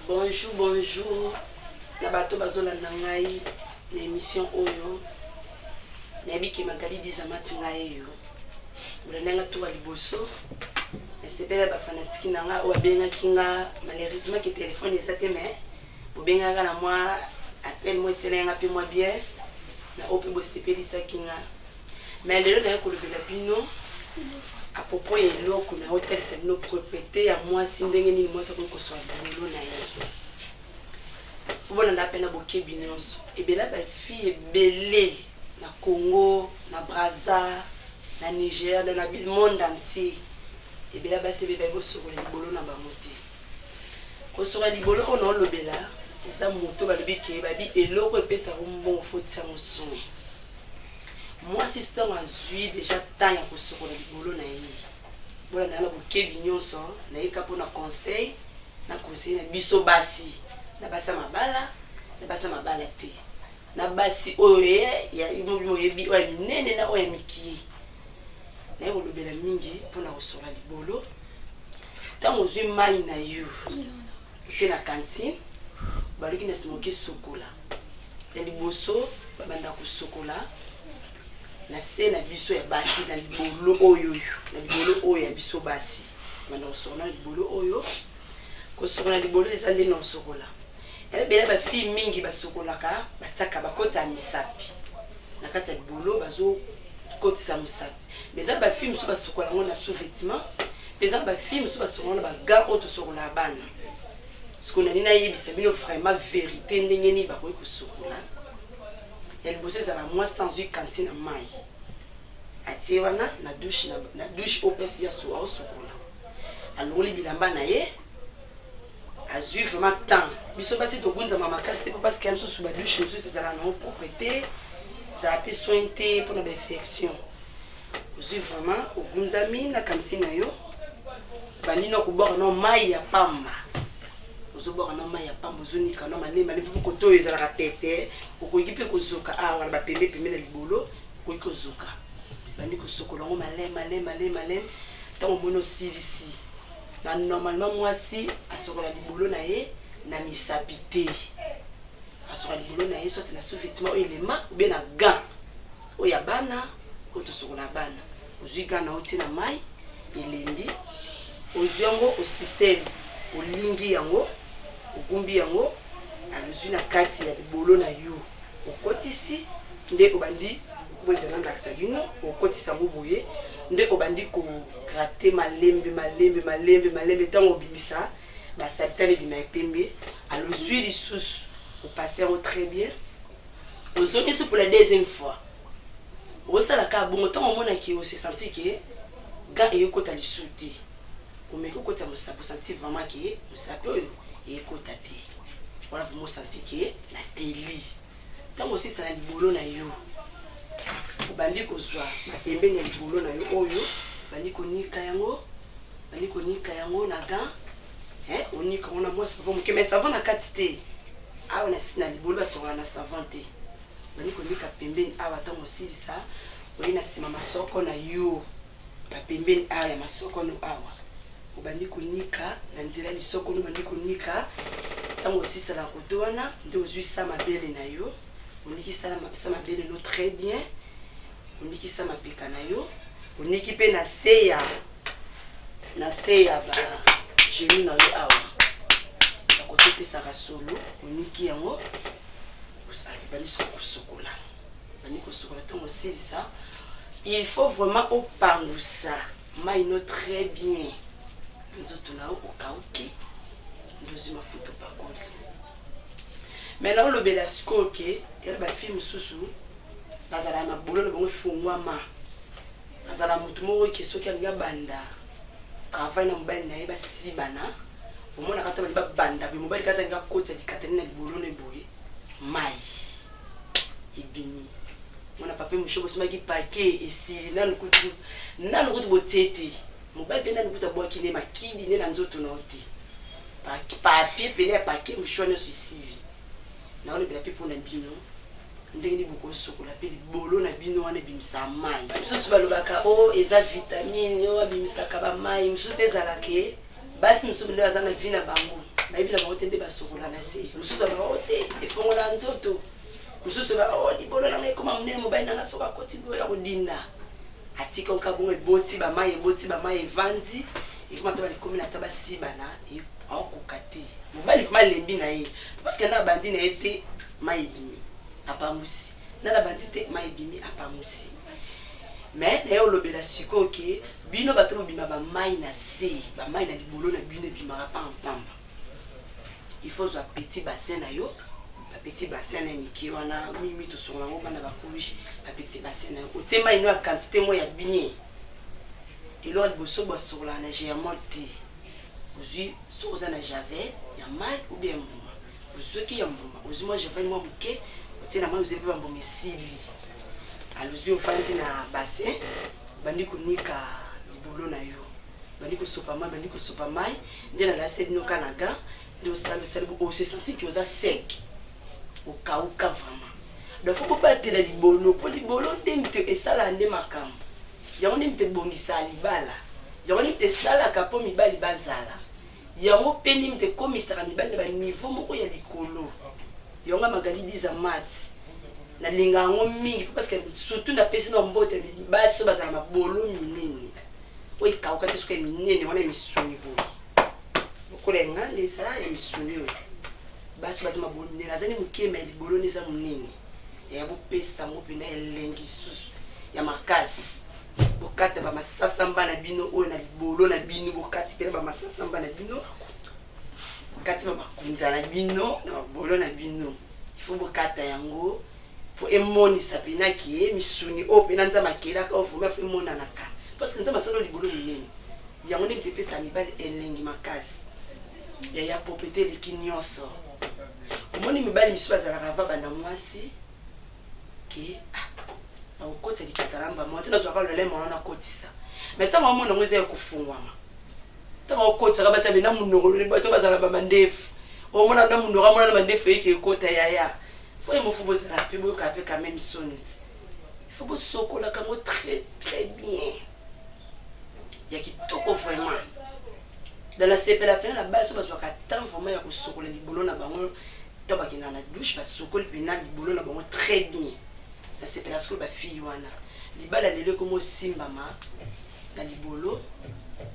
Bonjour, bonjour na bato bazolanda ngai na émission oyo nayebi ke magali dizamati ngai eyo bolanda nga tour ya liboso nasepela bafanatiki na nga oyo abengaki nga malheureusement ke telefone eza te mais bobengaka na mwa appel mwa eselai nga mpe mwa bien na oyo mpe bosepelisaki nga Mais lelo naye kolobela bino à propos ya eloko na otalisa bino propriete ya mwasi ndenge nini mwasi akoki koswa bilolo na ye obolanda mpe na bokebi nyonso ebela bafille ebele na congo na braza na nigeria na monde entier ebela basi ebe baye kosokola libolo na bango te kosokola libolo oyo naolobela eza moto balobi ke babi eloko epesaka mbongo fotisa mosuni Mwasi ntango azwi deja temps ya kosokola libolo na ye, bolanda na bokebi nyonso nayika mpo na conseil na conseiller na biso basi na basi ya mabala na basi ya mabala te na basi oyo ya oyebi oyo ya minene na oyo ya mikie naye kolobela mingi mpo na kosokola libolo ntango ozwi mai na yo Toke na cantine baluki na sima oke sokola na liboso babanda kosokola na se na biso ya basi na libolo oyo na libolo oyo ya biso basi banda kosokola na libolo oyo kosokola libolo eza nde na osokola yalebela bafille mingi basokolaka batiaka bakota ya misapi na kati ya libolo bazokotisa mosapi Mais eza ba filles mosusu basukola yango na sous vêtement mpe eza ba filles mosusu basukola na ba gants oyo tosukolaka bana sikoyo na nini nayebisa bino vraiment verité ndenge nini bakoki kosukola ya liboso ezala mwasi ntango azwi kanti na mai atie wana na dushe na dushe opesi ya suwa osukola alongoli bilamba na ye azui vraiment temps biso basi togunzama makasi te mpo parce que ya misusu badouche mosusu ezala nango propre te ezala mpe soin te mpo na bainfection ozwi vraiment ogunzami na kanti na yo bandi na kobwaka na mai ya pamba ozobwaka na mai ya pamba ozonika na malema ne mpo koto oyo ezalaka pete okoki mpe kozoka awa ah, na bapembe pembe na libolo okoki kozoka bandi kosokola yango malema malema malema ntango omoni osilisi Na normalement mwasi asokola libolo na ye na misapi te. Asokola libolo na ye soit na sous-vêtement oyo elema ou bien na gant. Oyo ya bana oyo tosokola bana. Ozui gant na yo otie na mayi elembi ozui yango o système olingi yango ogumbi yango ozui na kati ya libolo na yo okotisi nde obandi oyo ezali nalakisa bino okotisa yango boye nde obandi ko Gratte malembe malembe malembe malembe tango obimisa ba sabitana ebima ya pembe alors ozui lisusu o passer yango très bien ozongisi pour la deuxième fois osala kaka bongo tango omona ke o se sentir ke gant eye kota lisusu te omeki okotisa mosapi osanti vraiment ke mosapi oyo ekota te wana vraimen osanti ke nateli Ntango osisa na libolo na yo, obandi kozwa mapembeni ya libolo na yo oyo, obandi konika yango, obandi konika yango na gant, eh, onika yango na mwa savon moke, mais savon na kati te. Awa na, na libolo basokaka na savon te. Obandi konika pembeni awa, ntango osilisa, oye na nsima masoko na yo. Ba pembeni awa ya masoko no awa obandi konika na nzela lisoko no obandi konika tango osisa na koto wana nde ozui sa mabele na yo oniki sa mabele no très bien oniki sa mapeka na yo oniki mpe na se ya na se ya ba genu na yo awa bakoto opesaka solo oniki yango obandi soko kosokola Bandi kosukola ntango osilisa il faut vraiment opangusa mai no très bien na nzoto na yo okauki ndozi mafuta opakoli mai na olobela sikoyo ke yala bafilme mosusu bazala ya mabololo bango efungwama azala motu moko ke soki alingi abanda travail na mobali na ye basibana omonaka ata balingi babanda boye mobali kata alingi akotisa likatani na libolo na eboye Mai ebimi. Mwana pape mosho bosimaki pake esili nanu kutu nanu kutu botie te. Mobali mpe nanu kutu abwaki ne makidi ne na nzoto na yo te. Papier pene ya pake mosho nyonso esili. Naolobela mpe mpo na bino ndenge nini bokosokola mpe libolo na bino wana ebimisaka mai. Misusu balobaka o oh, eza vitamine oyo oh, abimisaka bamai, mosusu mpe ezalaka basi mosusu nde baza na vie na bango bayebi na bango te nde basokola na se mosusu ya bango te efongola nzoto mosusu ba o oh, libolo nanga ekoma monene mobali nanga soki akoti boyo ya kodinda atika oka bongo eboti bamai eboti bamai evanzi ekoma ta balikomi na ta basibana aokoka te mobali vrima alembi na ye parce que na abandi na ye te mai ebimi apamusi na nabandi te mai ebimi apamusi mais naye olobela sikoyo ke Bino bato bobima ba mayi na se ba mayi na libolo na bino ebimaka pa pamba il faut ozua petit bassin na yo ba petit bassin na mike wana mimi tosongola yango bana ba couche ba petit bassin na yo otie mayi no ya quantité mo ya bien eloko liboso bosokolaka na germol te ozui soki oza na javel ya mayi ou bien mbuma Ozuaki ya mbuma, ozui mwa javel mwa moke, otie na mai, ozeli mpe bambuma esili. Alozui ofandi na bassin, obandi konika libolo na yo, obandi kosopa mai, obandi kosopa mai, nde nalasi bino ka na gant, nde osali osali bo, ose sentir que oza sec, okauka vraiment. Donc faut bobatela libolo, mpo libolo nde moto esalaka nde makambo, yango nde moto ebongisaka libala, yango nde moto esalaka mpo mibali bazala. Yango pende moto ekomisaka mibali na ba niveau moko ya likolo yango ya Magali Biza Matt nalinga yango mingi po parceque surtout napesi nao mbote basi oyo bazala mabolo minene oyo ekauka te soki ya minene wana ya misuni boye lokola enganda eza ya misuni oyo basi baza mabolo minene aza nde moke ma libolo nde eza monene ya bopesa yango mpena elengi lisusu ya makasi bokata bamasasamba na bino oyo na libolo na bino bokati mpena bamasasamba na bino bokati bamakunza na bino na babolo na bino ifo bokata yango mpo emonisa mpena ke misuni oyo mpena nzambe akelaka oyo vraimen fo emonanaka parceke nzambe asala libolo monene yango nde mpe epesa mibali elengi makasi yaya proprete eleki nyonso omoni mibali misusu bazalaka ava banda mwasi ke ah, nakokotisa bicatalamba mwa te nazwaka lolai mwana nakotisa mai ntango amona yango eza ya kofungwama ntango akokotisaka batabe na monoko lole bato bazala bamandefu omona na monoko amona na mandefu eyeke ekota yaya fo ye mofu bozala mpe boyoka mpe kameme soni fo bosokolaka yango très très bien ya kitoko vraiment na nasepela mpena na basi bazwaka temps vraiment ya kosokola libolo na bango to bakendaka na douche basokoli mpena libolo na bango très bien nasepela sikoyo bafille wana libala lelo ekomi osimbama na libolo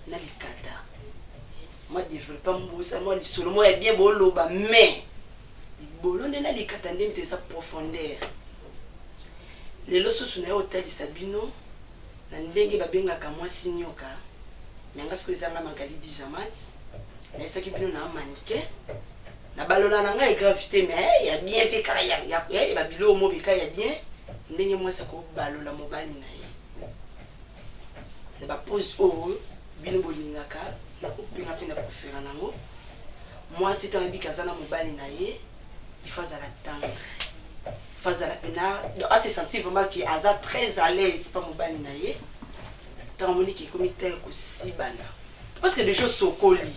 na likata mwa developpe mbosa mwa lisolo mwa ya bien boloba mais libolo nde na likata nde mpenza profondeur lelo susu na yo otalisa bino na ndenge babengaka mwasi nioka mais nga sikoyo eza nga Magali Dizamat nayesaki bino na manike na balola na ngai grave te mais ya bien mpe kaka ya ya ya ba biloko mobika ya bien ndenge mwasi akobalola mobali na ye na bapose oyo bino bolingaka na kobenga mpe na kofela nango mwasi ntango abiki aza na mobali na ye il faut azala tendre il faut azala pena a se sentir vraiment que aza très à l'aise pa mobali na ye ntango amoni ke ekomi ntan ya kosibana parce que déjà osokoli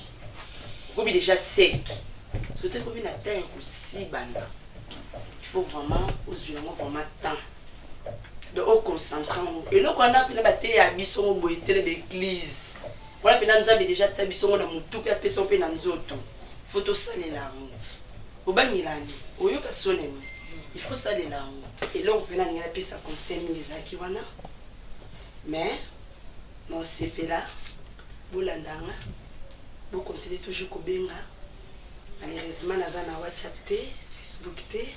okomi déjà sec soki ekomi na ntan ya kosibana il faut vraiment ozwi yango vraiment temps donc oconcentre yango eloko wana mpena bateya biso yango boye tele baeglise Wana pena Nzambe deja atia biso ngo na mutu pe apesa yo pe na nzoto. Faut tosalela yango. Obangela nde oyoka soni nde il faut salela yango. Eloko pena ningana pesa conseil mingi ezalaki wana mais na osepela bolanda nga bo continuer toujours kobenga malheureusement naza na whatsapp te facebook te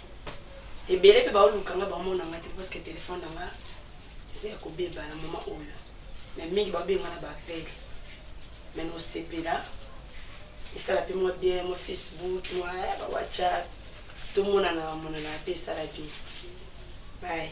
ebele mpe baoluka nga bamona nga te parce que telefone na nga eza ya kobeba na moma oyo me mingi babenga na baapele me nosepela esala mpe mwa bien mwa facebook mwa eh, bawhatsapp tomonana monana mpe esala bien baye